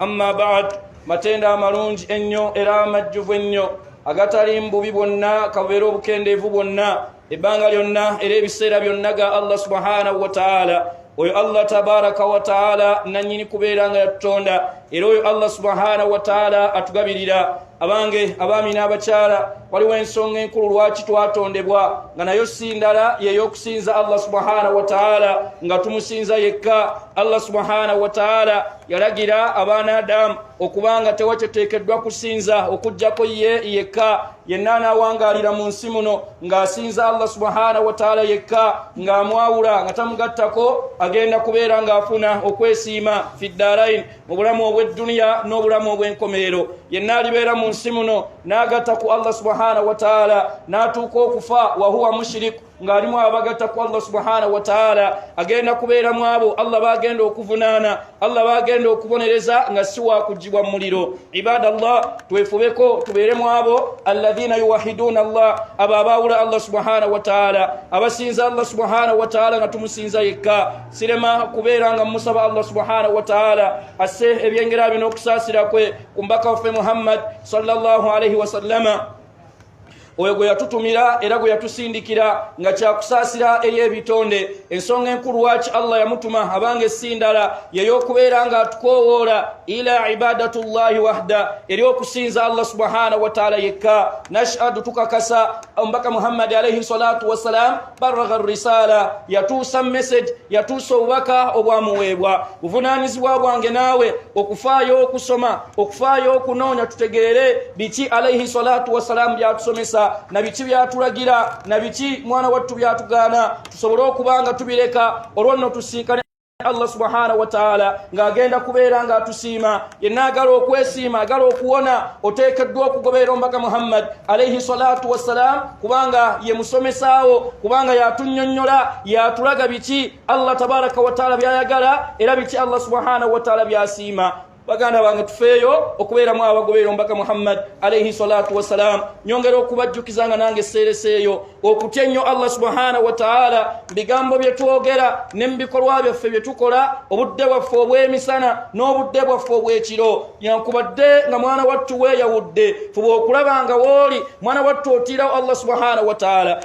amma bad matendo amalungi ennyo era amajjuvu ennyo agatali mbubi bwonna kabubeera obukendeevu bwonna ebbanga lyonna era ebiseera byonna ga allah subhanahu wataala oyo allah tabaraka wataala nanyini kubeera nga yatutonda era oyo allah subhanahu wataala atugabirira abange abaami n'abakyala waliwo ensonga enkulu lwaki twatondebwa nga nayo si ndala yeyokusinza allah subhanahu wataala nga tumusinza yekka allah subhanahu wataala yalagira abaana adamu okubanga tewakyoteekeddwa kusinza okujjako ye yekka yenna anaawangalira mu nsi muno ng'asinza allah subhanahu wataala yekka ng'amwawula nga tamugattako agenda kubeera ng'afuna okwesiima fi ddarain mu bulamu obw'edduniya n'obulamu obw'enkomerero yenna alibeera mu nsi muno n'agatta ku allah subhanahu wataala n'atuuka okufa wahuwa mushiriku ng'alimu abagatta ku allah subhanahu wataala agenda kubeera mu abo allah bagenda okuvunaana allah bagenda okubonereza nga si wakugibwa mu muliro ibada llah twefubeko tubeere mu abo alladhina yuwahiduuna allah abo abaawula allah subhanahu wataala abasinza allah subhanahu wataala nga tumusinza yekka sirema kubeera nga mumusaba allah subhanahu wataala asse ebyengera bino okusaasira kwe ku mbaka waffe muhammad sallallahu alaihi wasallama oyo gwe yatutumira era gwe yatusindikira nga kyakusaasira eri ebitonde ensonga enkulu waaki allah yamutuma abanga essindala yeyokubeera nga atukowoola ila ibadatu llahi wahda eri okusinza allah subhanahu wataala yekka nashhadu tukakasa omubaka muhammadi alaihi salatu wassalam baragha risala yatuusa message yatuusa obubaka obwamuweebwa buvunaanyizibwa bwange naawe okufaayo okusoma okufaayo okunoonya tutegeere biki alaihi salatu wassalaamu byatusomesa na biki byatulagira na biki mwana wattu byatugaana tusobole okuba nga tubireka olwo nno tusinkane allah subhanahu wataala ng'agenda kubeera ng'atusiima yenna agala okwesiima agala okuwona oteekeddwa okugoberera omubaka muhammad alaihi salatu wassalaamu kubanga ye musomesaawo kubanga yatunyonyola yatulaga biki allah tabaraka wataala byayagala era biki allah subhanahu wataala byasiima baganda bange tufeeyo okubeeramu abagoberera omubaka muhammad alaihi salatu wassalaamu nyongera okubajjukiza nga nange seereseeyo okutya ennyo allah subhanahu wataala mu bigambo bye twogera ne mu bikolwa byaffe bye tukola obudde bwaffe obw'emisana n'obudde bwaffe obw'ekiro yankubadde nga mwana wattu weeyawudde fuba okulaba nga wooli mwana wattu otiirawo allah subhanahu wataala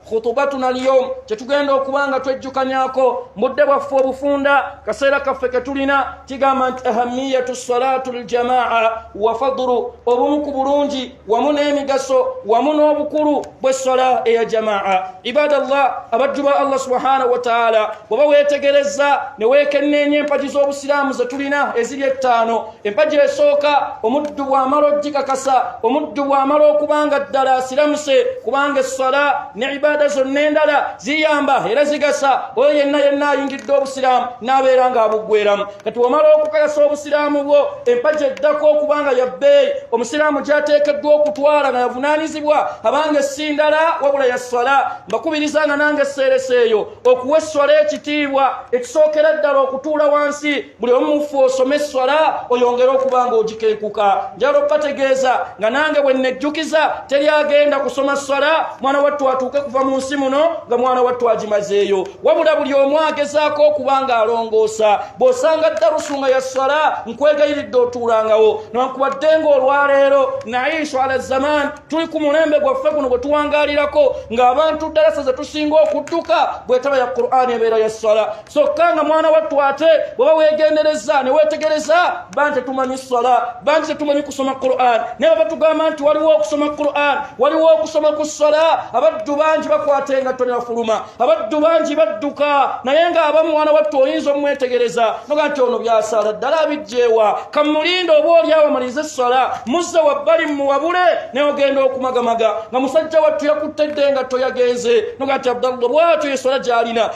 khutubatuna alyom kyetugenda okuba nga twejjukanyako mudde bwaffe obufunda kaseera kaffe ketulina kigamba nti ahamiyatu salatu ljamaa wa fadulu obumu ku bulungi wamu n'emigaso wamu n'obukulu bwessola eya jamaa ibada llah abajju ba allah subhanahu wataala bweba weetegereza ne weekenneenya empagi z'obusiraamu zetulina eziri ettaano empagi esooka omuddu bw'amala okugikakasa omuddu bw'amala okuba nga ddala asiramuse kubanga esswala ne ibaada zonna endala ziyamba era zigasa oyo yenna yenna ayingidde obusiraamu n'abeera ng'abuggweramu kati omala okukakasa obusiraamu bwo empagi eddako okuba nga ya bbeeyi omusiraamu gy'ateekeddwa okutwala nga yavunaanyizibwa abanga essi ndala wabula ya sswala mbakubiriza nga nange esseeresa eyo okuwa esswala ekitiibwa ekisookera ddala okutuula wansi buli omu mufu osome esswala oyongere okuba nga ogikenkuka njala okubategeeza nga nange bwe nnejjukiza teri agenda kusoma sswala mwana wattu atuuke kuva mu nsi muno nga mwana wattu agimazeeyo wabula buli omu agezaako okuba nga alongoosa bw'osanga ddarusu nga ya sswala nkwegayiridde otuulangawo nankubadde nga olwaleero naye inswala zaman tuli ku mulembe gwaffe guno gwe tuwangaalirako ng'abantu ddalasa ze tusinga okudduka bwetaba ya qur'ani ebeera ya sswala kyokka nga mwana wattu ate bweba wegendereza newetegereza ba nti tetumanyi sala ba nti tetumanyi kusoma quran naye baba tugamba nti waliwo okusoma quran waliwo okusoma ku sala abaddu bangi bakwata engatto nebafuluma abaddu bangi badduka naye nga aba mwana wattu oyinza omwetegereza noga nti ono byasala ddala abijjeewa kamulinda oba oli awamaliriza essala muzze wabbali muwabule naye ogenda okumagamaga nga musajja wattu yakutte dde engatto yagenze noga nti abdallah bwatyo eswala gyalina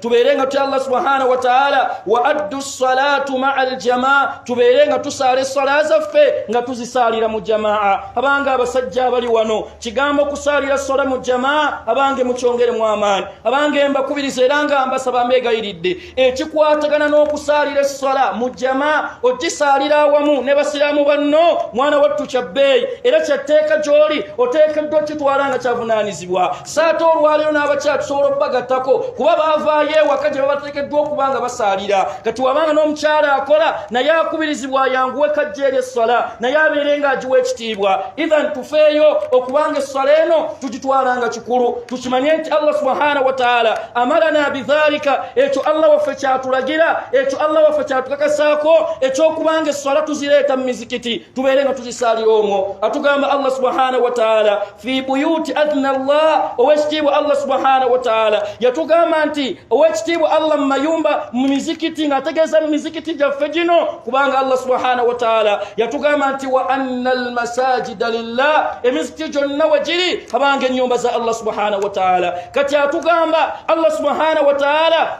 tubeere nga tutya allah subhanahu wataala wa addu salatu maa aljamaa tubeere nga tusaala essala zaffe nga tuzisaalira mu jamaa abange abasajja abali wano kigambo okusaalira sola mu jamaa abange mukyongeremu amaani abange mbakubiriza era nga mbasaba mbeegayiridde ekikwatagana n'okusaalira essola mu jamaa okisaalira awamu ne basiraamu banno mwana wattu kya bbeeyi era kyatteeka gy'oli oteekeddwa okitwala nga kyavunaanyizibwa saate olwaleero n'abakyala tusobola okubagattako kuba baavaayo ewaka gye babateekeddwa okuba nga basaalira kati wabanga n'omukyala akola naye akubirizibwa ayanguwe kajja eri esswala naye abeere ng'agiwa ekitiibwa ethan tufeeyo okubanga esswala eno tugitwala nga kikulu tukimanye nti allah subhana wataala amalana bidhalika ekyo allah waffe kyatulagira ekyo allah waffe kyatukakasaako ekyokubanga esswala tuzireeta mu mizikiti tubeere nga tuzisaalira omwo atugamba allah subhana wataala fi buyuti adna llah owekitiibwa allah subhanahu wataala yatugamba nti owekitiibwa allah mu mayumba mu mizikiti ng'ategeeza mu mizikiti gyaffe gino kubanga allah subhanahu wataala yatugamba nti wa anna almasajida lillah emizikiti gyonna we giri abanga ennyumba za allah subhanahu wataala kati atugamba allah subhanahu wataala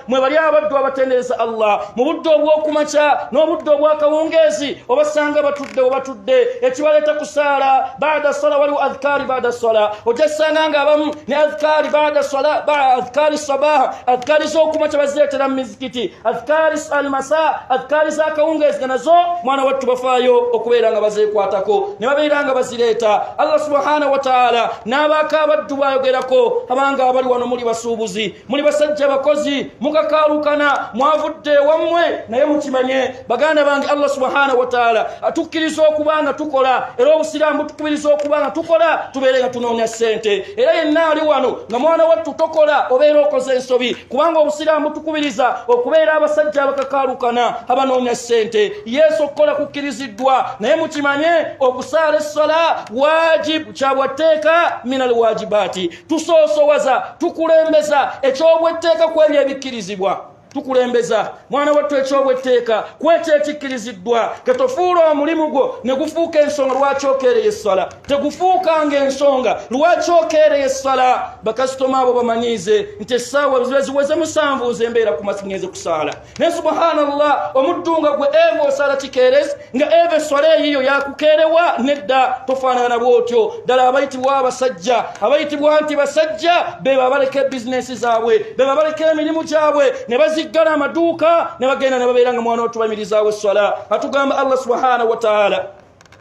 mwe bali abaddu abatendereza allah mu budde obw'okumakya n'obudde obw'akawungeezi obasanga batudde webatudde ekibaleeta kusaala baada sola waliwo adhikaari baada sola ojassanga nga abamu ne adhikaari baada sola adhikaari sabaha adhikaari z'okumakya bazireetera mu mizikiti adhikaari almasa adhikaari z'akawungeezi nga nazo mwana wattu bafaayo okubeera nga bazeekwatako ne babeera nga bazireeta allah subhanahu wataala n'abaako abaddu bwayogerako abanga abali wano muli basuubuzi muli basajja bakozi mukakaalukana mwavudde ewammwe naye mukimanye baganda bange allah subhanahu wataala atukkiriza okuba nga tukola era obusiraamu butukubiriza okuba nga tukola tubeere nga tunoonya ssente era yenna ali wano nga mwana wattu tokola obeera okoze ensobi kubanga obusiraamu butukubiriza okubeera abasajja abakakaalukana abanoonya ssente yesu okukola kukkiriziddwa naye mukimanye okusaala essala wajibu kyabwatteeka minal wajibaati tusoosowaza tukulembeza ekyobwetteeka ku ebyo ebikkirizibwa tukulembeza mwana wattu ekyobwetteeka ku ekyo ekikkiriziddwa ketofuula omulimu gwo ne gufuuka ensonga lwaki okeereye essala tegufuukanga ensonga lwaki okeereye essala bakasitoma abo bamanyiize nti essaawa ziba ziweze musanvu nze mbeera ku masingenze kusaala ne subhanallah omuddu nga gwe eva osala kikeerezi nga eva eswala eyiyo yakukeerewa nedda tofaanana bwotyo ddala abayitibwa abasajja abayitibwa nti basajja be babaleka ebizinesi zaabwe be babaleka emirimu gyabwe ne baziggala amaduuka ne bagenda ne babeera nga mwana otubayimirizaawo esswala atugamba allah subhanahu wataala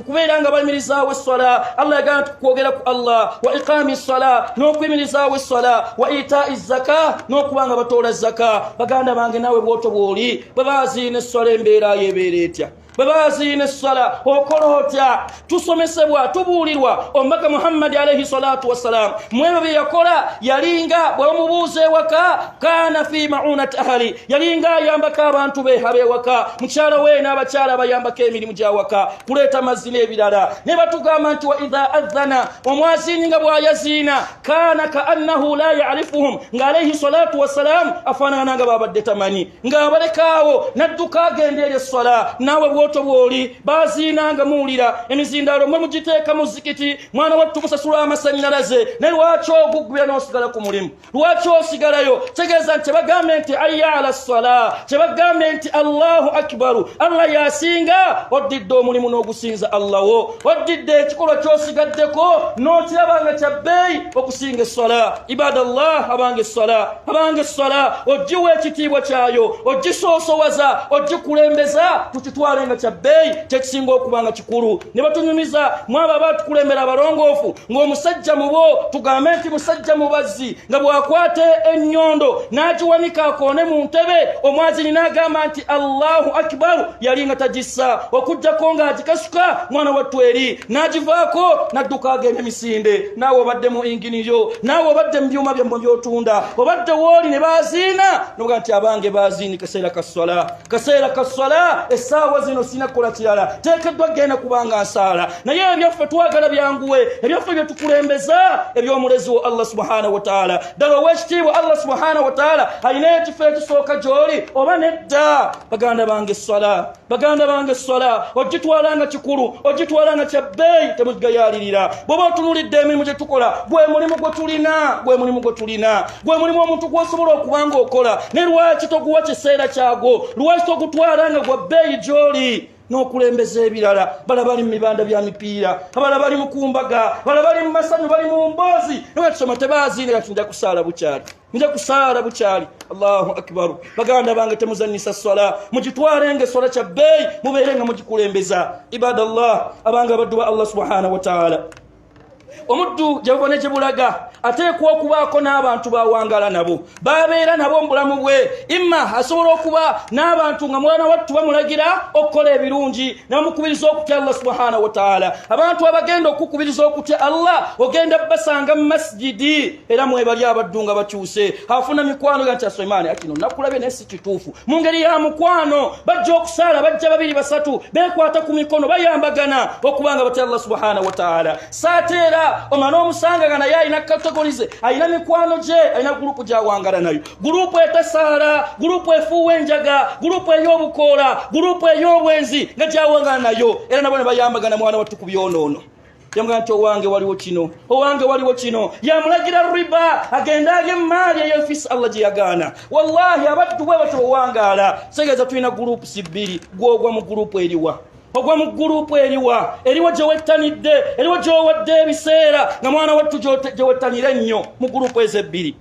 kubeera nga bayimirizaawo esswala allah yagamba nti kwogera ku allah wa iqaami ssala n'okuyimirizaawo esswala wa itai zaka n'okuba nga batoola zaka baganda bange naawe bwoto bw'oli bwe baziina esswala embeerayo ebeera etya bwe baziina essala okola otya tusomesebwa tubuulirwa omubaka muhammadi alaihi salatu wassalaamu mwebyo bye yakola yalinga bwe bamubuuza ewaka kana fi maunat ahali yalinga ayambako abantu be abewaka mukyala we n'abakyala abayambako emirimu gyawaka kuleeta mazzi n'ebirala ne batugamba nti wa idha adhana omwazini nga bwayaziina kana kaannahu la yarifuhum nga alaihi salatu wassalaamu afaanagana nga babadde tamanyi ng'abalekaawo n'adduka agenda eri esswala naawe bwoto bwoli baziina nga muwulira emizindaalo mwe mugiteeka mu zikiti mwana wattu musasula amasannyalaze ne lwaki ogugubira n'osigala ku mulimu lwaki osigalayo tegeeza nti kyebagambye nti aya ala sala kyebagambye nti allahu akibaru allah yasinga oddidde omulimu n'ogusinza allah wo oddidde ekikolwa kyosigaddeko n'okiraba nga kya bbeeyi okusinga essala ibada llah abanga essala abanga essala ogiwa ekitiibwa kyayo ogisoosowaza ogikulembeza tukitwale nga kya bbeeyi kyekisinga okubanga kulu ne batunyumiza mwaba batukulembera abalongoofu ng'omusajja mubo tugambe nti musajja mubazzi nga bw'akwata ennyondo n'agiwanika akoone mu ntebe omwazini n'agamba nti allahu akibaru yali nga tagissa okuggyako ng'agikasuka mwana wattu eri n'agivaako n'adduka agenda emisinde naawe obadde mu ingini yo naawe obadde mu byuma byammwe by'otunda obadde wooli ne baaziina noga nti abange baaziini kaseera ka sswala kaseera ka sala essaawa zino sirina kukola kirala teekeddwa kugenda kubanga nsaala naye ebyaffe twagala byanguwe ebyaffe bye tukulembeza eby'omulezi wo allah subhana wataala ddala ow'ekitiibwa allah subhana wataala alina ekifo ekisooka gy'oli oba nedda baganda bange essala baganda bange essala ogitwala nga kikulu ogitwala nga kya bbeeyi temugigayaalirira bw'oba otunulidde emirimu gye tukola gwe mulimu gwe tulina gwe mulimu gwe tulina gwe mulimu omuntu gwosobola okuba nga okola ne lwaki toguwa kiseera kyagwo lwaki togutwala nga gwa bbeeyi gyoli n'okulembeza ebirala bala bali mu mibanda bya mipiira abala bali mu kumbaga bala bali mu masanyu bali mu mboozi newekisoma tebaaziine kati nja kusaala bukyali nja kusaala bukyali allahu akbaru baganda bange temuzanyisa swala mugitwale nga eswala kya bbeeyi mubeere nga mugikulembeza ibada llah abanga abaddu ba allah subhanahu wataala omuddu gyeva ne gyebulaga ateekwa okubaako n'abantu bawangala nabo babeera nabo mubulamu bwe imma asobola okuba n'abantu nga mwana wattu bamulagira okukola ebirungi namukubiriza okutya allah subhanahu wataala abantu abagenda okukubiriza okutya allah ogenda basanga mu masijidi era mwebali abaddu nga bakyuse afuna mikwano ga nti asemaani akino nakulabye kituufu mu ngeri ya mukwano bajja okusaala bajja babiri basatu bekwata ku mikono bayambagana okuba nga batya allah subhana wataala saate era omana omusanga nga naye alina katagolize alina mikwano gye alina gurupu gyawangala nayo gurupu etasaala gurupu efuuwa enjaga gurupu ey'obukoola gurupu ey'obwenzi nga gyawangala nayo era nabo ne bayambagana mwana wattu ku byonoono yamugamba nti owange waliwo kino owange waliwo kino yamulagira riba agende alye emaali eyo fisi allah gye yagaana wallahi abattu bwe batyo owangaala segeza tulina gurupu si bbiri gwogwa mu gurupu eriwa ogwa mu gurupu eriwa eriwo gye wettanidde eriwo gy'owadde ebiseera nga mwana wattu gye wettanira ennyo mu gurupu ezo ebbiri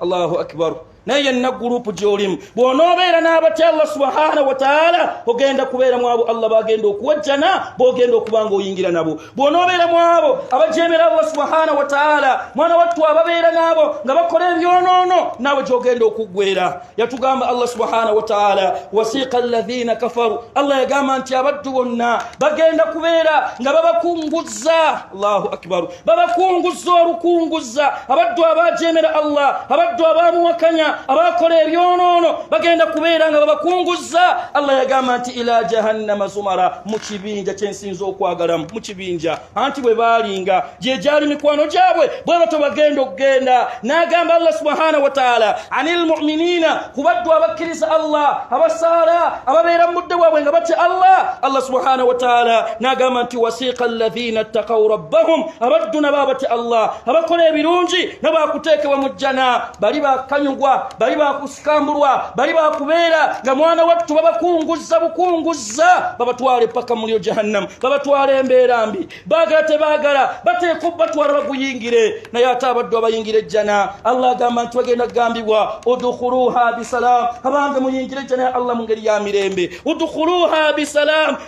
allahu akbaru naye yenna gurupu gyolimu bwonoobeera n'abatya allah subhana wataala ogenda kubeera mu abo allah bagenda okuwajjana bogenda okuba nga oyingira nabo bwonoobeera mu abo abajemera allah subhana wataala mwana wattu ababeera n'abo nga bakola ebyonoono naawe gyogenda okuggwera yatugamba allah subhana wataala wasiika alladhina kafaru allah yagamba nti abaddu bonna bagenda kubeera nga babakunguzza allahu akbaru babakunguzza olukunguzza abaddu abaajeemera allah abaddu abaamuwakanya abaakola ebyonoono bagenda kubeera nga babakunguzza allah yagamba nti ila jahannama zumara mu kibinja kyensinza okwagalamu mu kibinja anti bwe baalinga gye gyali mikwano gyabwe bwe bato bagenda okugenda n'agamba allah subhanahu wataala ani lmuminina ku baddu abakkiriza allah abasaala ababeera mu mudde waabwe nga batya allah allah subhanahu wataala n'agamba nti wasiika alladhina ttaqaw rabbahum abaddu nabo abatya allah abakola ebirungi nabo akuteekebwa mu jjana bali bakanyugwa bali bakusikambulwa bali bakubeera nga mwana wattu babakunguzza bukunguzza babatwala epaka mulyo jahannamu babatwala embeera mbi baagala tebaagala bateeka obatwala baguyingire naye ate abaddu abayingira ejjana allah agamba nti bagenda kugambibwa udukhuluha bisalaamu abange muyingire ejjana ya allah mu ngeri ya mirembe udukhuluha bisalaamu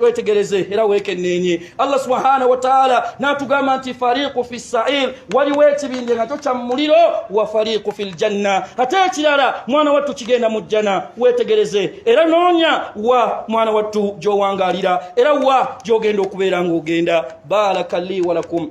wetegereze era wekenenye allah subhanahu wataala natugamba nti fariqu fi sair waliwo ekibinja nakyo kya mumuliro wa fariqu fi ljanna ate ekirala mwana wattu kigenda mu jjana wetegereze era noonya wa mwana wattu gyowangalira era wa gyogenda okubeera ngaogenda baraka li walakum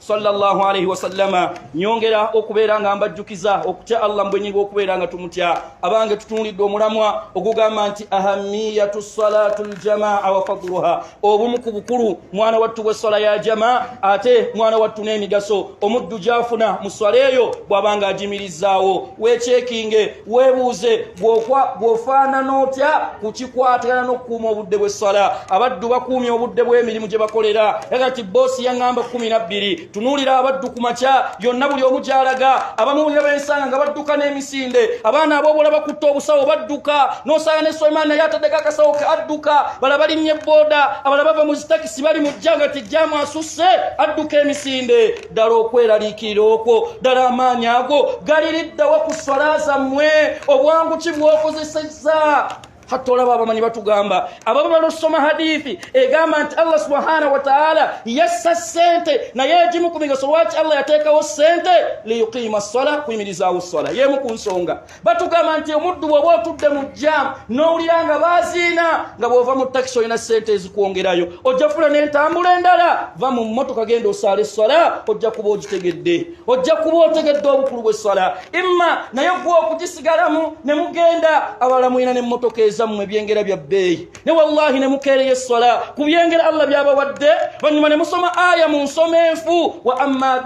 sallallahu alaihi wasallama nyongera okubeera nga mbajjukiza okutya allah mbwenyi bwokubeera nga tumutya abange tutunulidde omulamwa ogugamba nti ahamiyatu salatu ljamaa wafadluha obumu ku bukulu mwana wattu bweswala ya jamaa ate mwana wattu n'emigaso omuddu gyafuna mu swala eyo bwabanga ajimirizaawo wekyekinge webuuze gwofaanana otya ku kikwatagana n'okukuuma obudde bw'esswala abaddu bakuumya obudde bw'emirimu gye bakolera aga ti boosi yaŋŋamba kumi na bbiri tunuulira abaddu ku makya yonna buli omu gy'alaga abamu ne bensanga nga badduka n'emisinde abaana aboobola bakutte obusawo badduka n'osanga ne suleiman naye ataddeko akasawo ke adduka bala balinnye booda abala bava mu zitakisi bali mu jja nga tijjamu asusse adduka emisinde ddala okweraliikirira okwo ddala amaanyi ago galiriddawa ku swala zammwe obwangu ki bwokozesezza hatta olaba abamanyi batugamba ababa balusoma hadithi egamba nti allah subhanahu wataala yassa sente naye egimu ku migaso lwaki allah yateekawo sente liyuqiima ssala kuyimirizaawo ssala yeemu ku nsonga batugamba nti omuddu bwoba otudde mu jam nowulira nga baziina nga bwova mu takisi olina sente ezikwongerayo ojja fula nentambula endala va mu motoka genda osaala esswala ojja kuba ogitegedde ojja kuba otegedde obukulu bwesswala imma naye gwa okugisigalamu ne mugenda abalala mulina nemotoka ezammwe ebyengera bya bbeeyi ne wallahi ne mukeereyo esswala ku byengera allah byabawadde oluvannyuma ne musoma aya mu nsoma enfu wa amma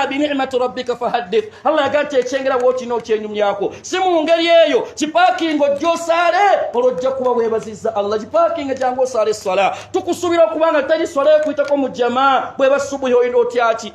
binicmati rabbika fahaddith allah yaga nti ekyengera wookina okyenyumyako si mu ngeri eyo kipaakinga ojja osaale olwo ojja kuba weebaziza allah kipaakinga gyangu osaala esswala tukusuubira okuba nga teri swala ekuyitako mu jama bweba subuhi olina otyaki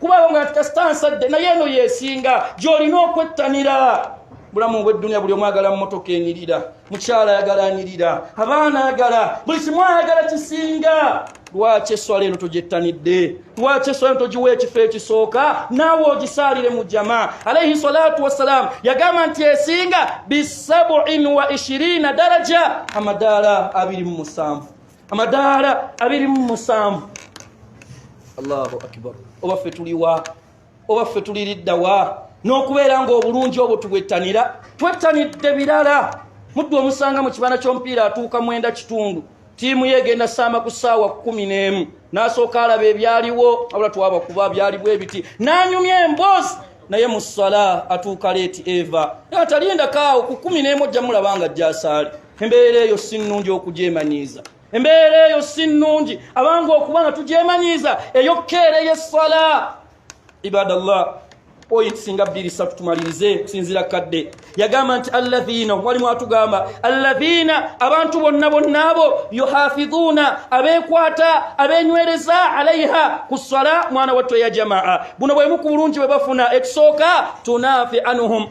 kuba awo nga kasita nsadde naye eno yesinga gyolina okwettanira bulamu bweddunia buli omwagala mumotoka enyirira mukyala ayagala anyirira abaana ayagala buli kimu ayagala kisinga lwaki eswala eno togyettanidde lwaki eswala eno togiwa ekifo ekisooka naawe ogisaalire mu jama alaihi salatu wassalaamu yagamba nti esinga bisabuin wa ishirina daraja amadaala abiri mu musanvu amadaala abiri mu musanvu allahu akbar oba ffe tuliwa oba ffe tuliriddawa n'okubeera ng'obulungi obwo tubwettanira twettanidde birala muddu omusanga mu kibanda ky'omupiira atuuka mwenda kitundu tiimu ye egenda saama ku ssaawa kumi n'emu n'asooka alaba ebyaliwo abula twaba kuba byaliwo ebiti n'anyumya emboozi naye mu ssala atuuka leeti eva atalindakaawo ku kumi n'emu ojja mulaba nga jjasaali embeera eyo si nnungi okugyemanyiiza embeera eyo si nnungi abange okuba nga tugyemanyiiza eyokkeera eyessala ibadallah point singa bbiri satu tumalirize okusinziira kadde yagamba nti alladhiina walimu atugamba alladhiina abantu bonna bonna abo yuhafidhuuna abeekwata abeenywereza alaiha ku ssala mwana watto ya jamaa buno bwemu ku bulungi bwe bafuna ekisooka tunaafi anuhum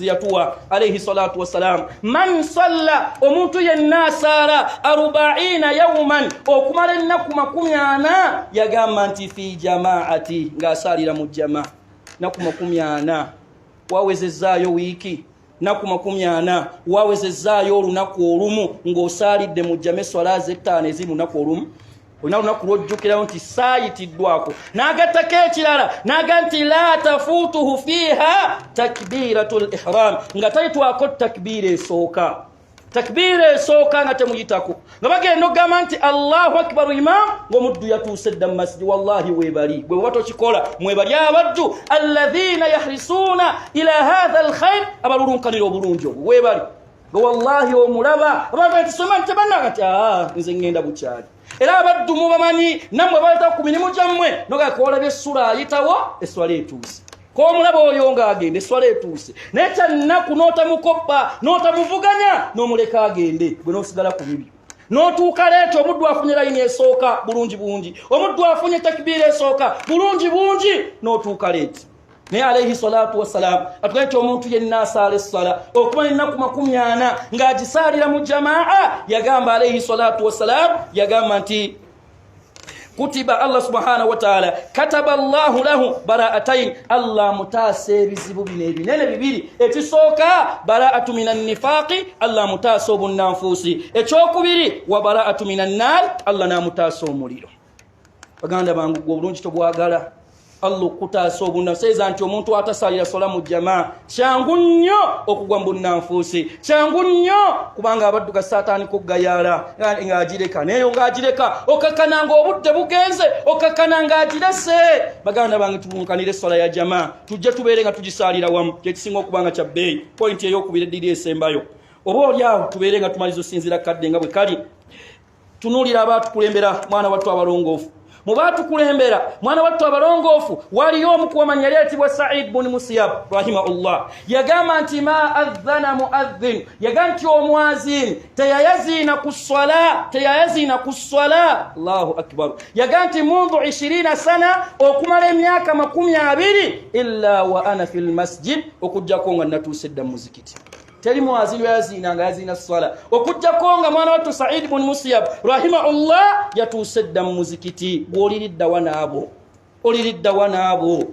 yatuwa alaihi salatu wassalam man salla omuntu yenna asaala arubaina yauman okumala ennaku makumi ana yagamba nti fi jamaati ng'asaalira mu jama naku makumi ana wawezezaayo wiiki naku makumi ana wawezezaayo olunaku olumu ng'osaalidde mu jama eswala zettaano eziri mu naku olumu olina lunaku lwojjukirawo nti saayitiddwako n'agattako ekirala naga nti la tafuutuhu fiiha takbiiratu l ihram nga tayitwako takbiira esooka takbiira esooka nga temuyitako nga bagenda okugamba nti allahu akibaru imam ngaomuddu yatuuse dda mu masiji wallahi webali gwe baba tokikola mwebali abaddu alladhina yahrisuuna ila hatha alkhair abalulunkanira obulungi obwo webali wallahi omulaba abantu batisoma nti tebanna kati ah, nze ŋŋenda bukyali era abaddu mubamanyi nammwe baleta ku mirimu gyammwe nogakoolaba essula ayitawo esswala etuuse komulaba oyo ng'agenda esswala etuuse naye kyannaku n'otamukoppa n'otamuvuganya n'omuleka agende gwe n'osigala ku bibi n'otuuka leeta omuddu afunye layini esooka bulungi bungi omuddu afunye takibiira esooka bulungi bungi n'otuuka leeti naye alaihi salatu wassalamu atugae nti omuntu yenna asaala essala okuba nenaku makumi ana ng'agisaalira mu jamaa yagamba alaihi salatu wassalamu yagamba nti kutiba allah subhanahu wataala kataba llahu lahu baraatain allah amutaasa ebizibu bino ebinene bibiri ekisooka baraatu min annifaqi allah amutaasa obunnanfuusi ekyokubiri wa baraatu min annaari allah n'amutaasa omuliro baganda bangu gwe obulungi tobwagala allah okutaasa obunaseeza nti omuntu atasalira sola mu jama kyangu nnyo okugwa mu bunnanfuusi kyangu nnyo kubanga abadduka saataani kuggayaala ng'agireka nayeyo ng'agireka okakkana ng'obudde bugenze okakkana ng'agirese baganda bange tubunkanire esola ya jama tujje tubeere nga tugisaalira wamu kyekisinga okuba nga kya bbeeyi pointi ey'okubira eddiri esembayo oba oli awo tubeere nga tumaliza osinzira kadde nga bwe kali tunuulira abaatukulembera mwana wattu abalongoofu mu baatukulembera mwana wattu abalongoofu waliyo omukuwamanya yali ayitibwa said buni musiyab rahimahullah yagamba nti ma adhana muadhin yagamba nti omwazin teyayaziina ku swala teyayaziina ku swala allahu akbar yagamba nti mundu 20 sana okumala emyaka makumi abiri illa wa ana fi lmasjid okugjako nga natuuse dda mu muzikiti teri mwazi lweyaziina nga yaziina swala okujjako nga mwana wattu saidi bun musiyab rahimahullah yatuuse dda mu muzikiti gwoliriddawa naabo oliriddawa naabo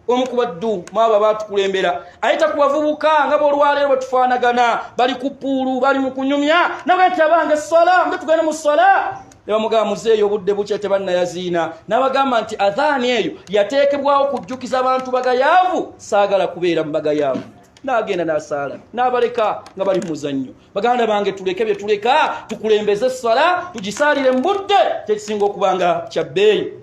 omu ku baddu mwabo abatukulembera ayita ku bavubuka nga bolwaleero batufaanagana bali ku puulu bali mu kunyumya naga nti abange swala mbe tugende mu swala nebamugamba muzeeyo obudde bukya tebannayaziina nabagamba nti adhaani eyo yateekebwawo kujjukiza abantu bagayaavu saagala kubeera mu bagayaavu n'agenda n'asaala n'abaleka nga bali mu muzannyo baganda bange tuleke bye tuleka tukulembeze essala tugisaalire mu budde kyekisinga okuba nga kya bbeeyi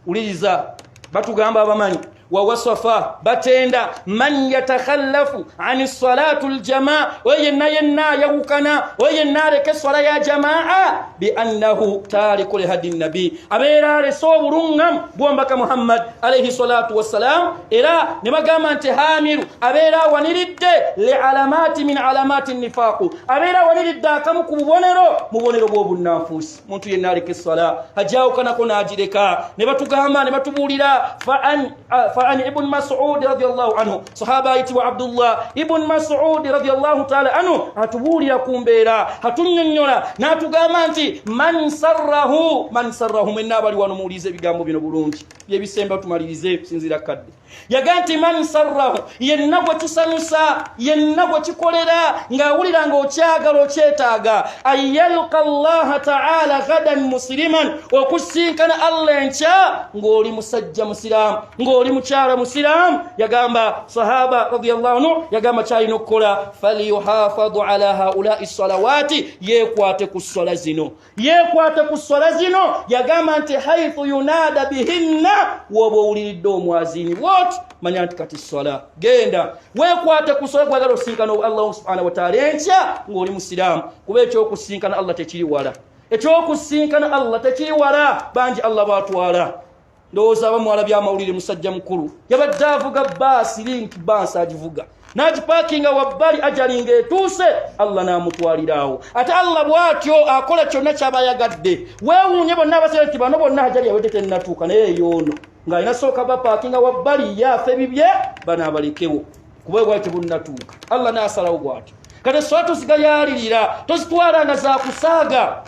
wuliriza batugamba abamanyi wawasafa batenda man yatakhallafu ani salatu ljamaa oyo yenna yenna yawukana oyo yenna aleka esswala ya jamaa biannahu tariku lihadi nabi abeera alese obulungamu bwombaka muhammad alaihi salatu wassalamu era ne bagamba nti hamiru abeera awaniridde le alamaati min alamaati nifaaku abeera awaniridde akamu ku bubonero mu bubonero bw'obunnanfuusi muntu yenna aleka essala ajawukanako n'agireka ne batugamba ne batubuulira fa an ibuni masudi radiallahu anhu sahaba ayitibwa abdullah ibuni masudi radiallahu taala anhu atubuulira ku mbeera atunyonyola n'atugamba nti man sarrahu man sarrahu mwenna abali wano muwuliza ebigambo bino bulungi byebisemba tumalirize kusinziira kadde yagaa nti man sarrahu yenna gwe kisanyusa yenna gwe kikolera ng'awulira ng'okyagala okyetaaga anyalka llaha taala gadan musiliman okusinkana allah enkya ng'oli musajja musiraamu ng'oli mukyala musiraamu yagamba sahaba radiallahu anhu yagamba kyalina okukola falyuhafadu ala haulai salawaati yeekwate ku ssala zino yeekwata ku sswala zino yagamba nti haithu yunaada bihinna wooba owuliridde omwazini wot manya nti kati sswala genda weekwate ku sswala kwagala osinkana allahu subhana wataala enkya ng'oli musiraamu kuba ekyokusinkana allah tekiri wala ekyokusinkana allah tekiri wala bangi allah batwala ndowooza aba mwala byamawulire musajja mukulu yabadde avuga baasi link baasi agivuga n'agipaakinga wabbali ajalinga etuuse allah n'amutwaliraawo ate allah bw'atyo akola kyonna kyaba ayagadde weewuunye bonna abasere nti bano bonna ajali yawedde tennatuuka naye eyoono ng'alina sooka bapaakinga wabbali ye afe bibye bano abalekewo kuba ebwali tebunnatuuka allah n'asalawo bw'atyo kati sola tozigayaalirira tozitwala nga zakusaaga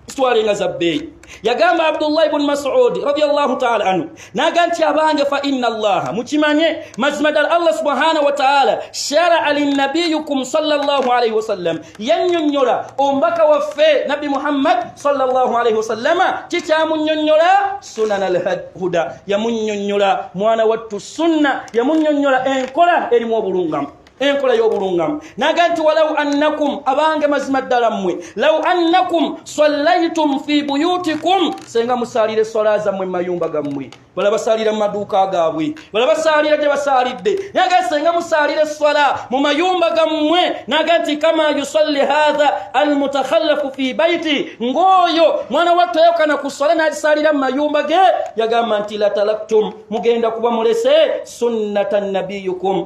sitwale nga za bbeeyi yagamba abdullahi buni masudi radiallahu taala anhu naga nti abange fa ina allaha mukimanye mazima ddala allah subhanahu wataala sharaa linnabiyukum salllahu alaihi wasallam yannyonnyola omubaka waffe nabbi muhammad salllahu alaihi wasallama kikyamunnyonnyola sunana alhuda yamunnyonnyola mwana wattu sunna yamunnyonnyola enkola erimu obulungamu enkola y'obulungamu naga nti walau annakum abange mazima ddala mmwe lau annakum sallaitum fi buyutikum senga musaalira eswala zammwe mumayumba gammwe bala basaalira mu maduuka gaabwe bala basaalira gye basaalidde naga senga musaalira eswala mu mayumba gammwe naga nti kama yusalli hatha almutakhallafu fi baiti ng'oyo mwana wattu ayokana ku swala n'agisaalira mu mayumba ge yagamba nti latalaktum mugenda kuba mulese sunnata nabiyukum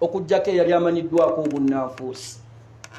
okujjako eyali amanyiddwako obunnanfuusi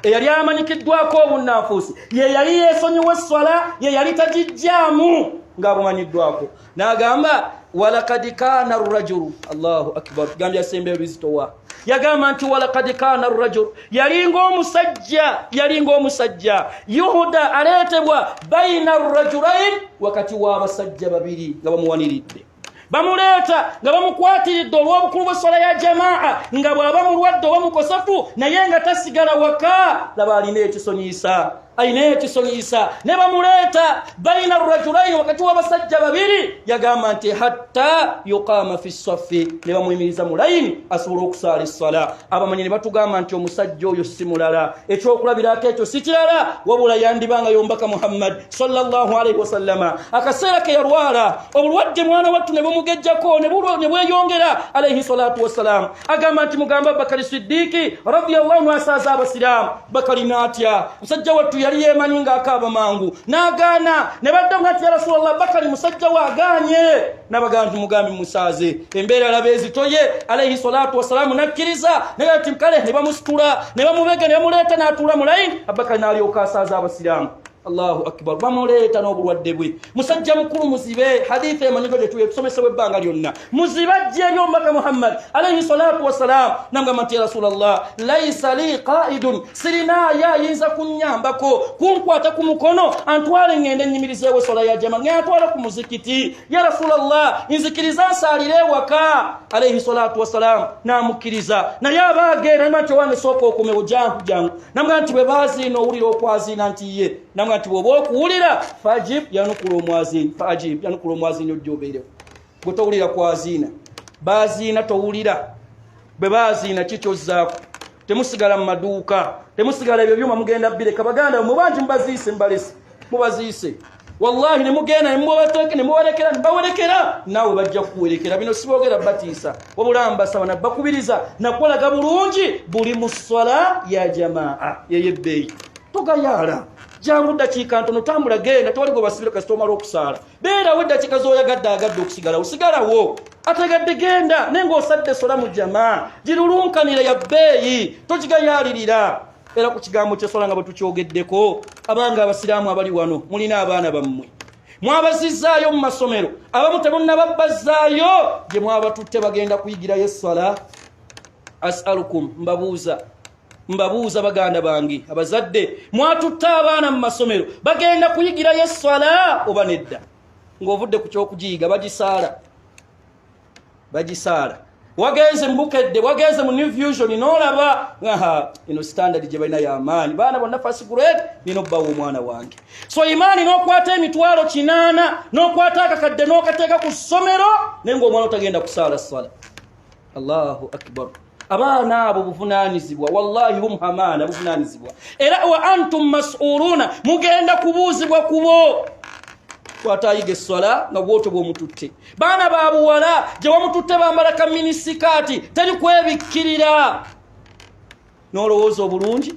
eyali amanyikiddwako obunnanfuusi ye yali yeesonyiwa esswala ye yali tagijjaamu ng'abumanyiddwako n'agamba walakad kaana rajulu allahu akbar gambye asemba ebizitowa yagamba nti walakad kaana rajulu yalinga omusajja yalinga omusajja yuhuda aleetebwa baina rajulain wakati w'abasajja babiri nga bamuwaniridde bamuleeta nga bamukwatiridde olw'obukulu bw'esswala ya jamaa nga bw'aba mulwadde oba mukosefu naye nga tasigala waka laba alina ekisonyiyisa alina ekisonyiyisa ne bamuleeta baina rajulaini wakati w'abasajja babiri yagamba nti hatta yuqama fi saffi ne bamuyimiriza mu layini asobola okusaala esswala abamanyi ne batugamba nti omusajja oyo si mulala ekyokulabirako ekyo si kirala wabula yandibanga yombaka muhammadi sallallahu alaihi wasallama akaseera ke yalwala obulwadde mwana wattu ne bumugejjako ne bweyongera alaihi salatu wassalamu agamba nti mugamba abubakari siddiiki radiallahu anhu asaaza abasiraamu bakali naatya musajja wattu yali yeemanyi ng'akaaba mangu n'agaana ne badda nti ya rasulallah bakali musajja we agaanye n'abagamba nti mugambi musaaze embeera alaba ezitoye alaihi salatu wassalamu n'akkiriza naga nti kale ne bamusitula ne bamubega ne bamuleeta n'atuula mu layini abubakari n'alyoka asaaza abasiraamu allahu akbar bamuleeta n'obulwadde bwe musajja mukulu muzibe haditha emanyigo gyetuye tusomesebwa ebbanga lyonna muzibe ajja eri omubaka muhammad alaihi salatu wassalam namugamba nti ya rasula llah laisa li qaidun sirinaayo ayinza kunyambako kunkwata ku mukono antwale ngende enyimirizeewo esola ya jama ngeantwala ku muzikiti ya rasula llah nzikiriza nsaalire ewaka alaihi salatu wassalam namukkiriza naye abaageera nima nti owange sooka okomewo jangu jangu namugamba nti bwe baziina owulira okwaziina nti ye namugamba nti bwoba okuwulira fajib yanukula omwaziini fajib yanukula omwaziini ojja obeerewo bwe towulira kwaziina baziina towulira bwe baziina kikyozzaako temusigala mu maduuka temusigala ebyo byuma mugenda bireka baganda mubangi mubaziise mubalese mubaziise wallahi nemugenda nemubalekera nebawelekera naawe bajja kukuwelekera bino sibogera batiisa wabula mbasaba nabakubiriza nakolaga bulungi buli mu swala ya jamaa yeyebbeeyi togayaala jangu dakiika ntono tambula genda tewali gwe basibira kasita omala okusaala beerawo eddakiika zoyagadde agadde okusigalawo sigalawo ategadde genda naye ngaosadde sola mu jamaa girulunkanira ya bbeeyi togigayaalirira era ku kigambo kyeswala nga bwetukyogeddeko abanga abasiraamu abali wano mulina abaana bammwe mwabazizaayo mu masomero abamu temunababbazaayo gye mwabatutte bagenda kuyigirayo esswala asalukum mbabuuza mbabuuza baganda bange abazadde mwatutte abaana mu masomero bagenda kuyigirayo esswala oba nedda ng'ovudde ku kyokugiyiga bagisaala bagisaala wagenze mubukedde wagenze mu new fusion nolaba aha ino standard gye balina yamaanyi baana bonna first grade nina obbawa omwana wange so imaani n'okwata emitwalo kinaana n'okwata akakadde n'okateeka ku ssomero naye ngaomwana otagenda kusaala sala allahu akbar abaana abo buvunanyizibwa wallahi hum hamaana buvunanyizibwa era wa antum masuuluuna mugenda kubuuzibwa kubo twatayiga eswala nga bwoto bwomututte baana babuwala gye wamututte bambala kaminisikaati teri kwebikkirira n'olowooza obulungi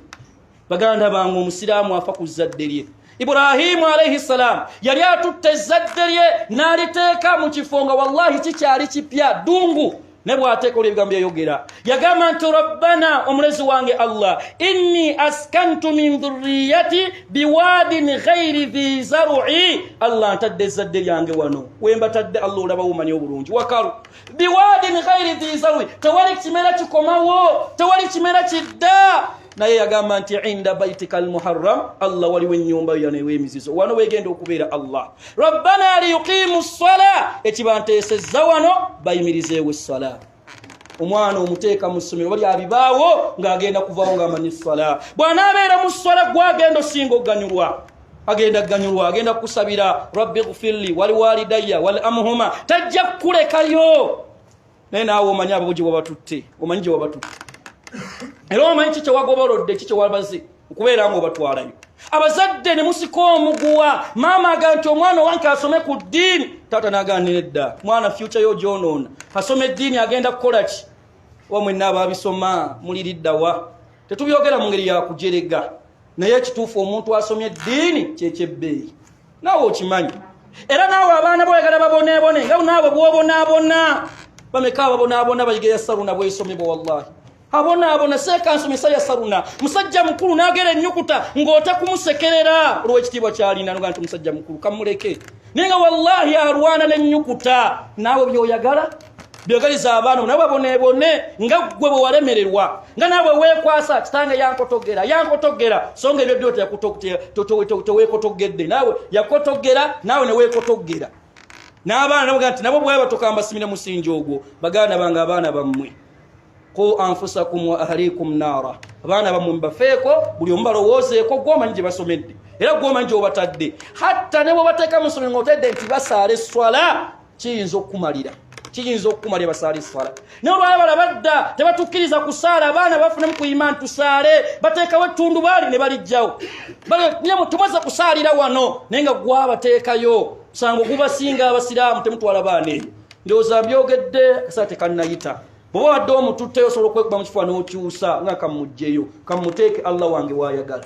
baganda bange omusiraamu afa ku zzadde lye ibrahimu alaihi ssalaamu yali atutte ezzadde lye n'aliteeka mu kifo nga wallahi kikyali kipya ddungu ne bw'ateekola ebigambo yayogera yagamba nti rabbana omulezi wange allah inni askantu min dhurriyati biwaadin ghairi dhi zarui allah ntadde ezzadde lyange wano wembatadde allah olaba womanya obulungi wakalu biwaadin ghairi dhi zarui tewali kimera kikomawo tewali kimera kidda naye yagamba nti inda baitika almuharram allah waliwo enyumba yo yano ewemizizo wano wegenda okubeera allah rabbana liyuqimu ssala ekibanteesezza wano bayimirizeewo essala omwana omuteeka mu ssomero bali abibaawo ng'agenda kuvaawo ng'amanyi essala bw'anaabeera mu ssala gwagenda osinga okuganyulwa agenda kuganyulwa agenda kukusabira rabbi gfirli waliwalidaya wal amuhuma tajja kukulekayo naye naawe omanyi ababo gye wabatutte omanyi gye wabatutte era omanyi ki kyewagobolodde ki kyewabaze okubeera nga obatwalayo abazadde ne musika omuguwa maama aga nti omwana owange asome ku ddiini taata nagaanira edda mwana fyuca yo gyonoona asoma eddiini agenda kukola ki oba mwenna ababisoma muliriddawa tetubyogera mu ngeri yakujerega naye ekituufu omuntu asomye eddiini kyekyebbeeyi naawe okimanyi era naawe abaana boyagala baboneebone nga naawe bwobonaabona bameka ababonaabona bayiga yasaruna bwesomebwa wallahi abonaabona seekansomesa yasaruna musajja mukulu naagera ennyukuta ng'otakumusekerera olw'ekitiibwa kyalina nga nti musajja mukulu kamuleke naye nga wallahi alwana n'ennyukuta naawe byoyagala byogaliza abaana nawe bonebone nga gwe bwe walemererwa nga nawe wekwasa kitange yankotogera yankotogera so nga ebyo byo tewekotogedde nawe yakotogera nawe newekotogera n'abaana nabo nti nabo bwaba tokambasimira musingi ogwo baganda bange abaana bammwe ku anfusakum wa ahlikum naara abaana bammwe mubafeeko buli omu balowoozeeko gwomanyi gye basomedde era gwomanyi gyobatadde hatta ne bwebateeka mu ssomero nga otedde nti basaala esswala kiyinza okukumalira kiyinza okukumalira basaala eswala naye olwala bala badda tebatukkiriza kusaala abaana bafunemu ku imaani tusaale bateekawo ettundubaali ne balijjawo nyemu tumaze kusaalira wano naye nga gwabateekayo musango gubasinga abasiraamu temutwala baana eyo ndowooza byogedde kasaa tekannayita bwoba wadde omututteyo osobola okwekuba mu kifuba n'okyusa nga kammugjeyo kammuteeke allah wange waayagala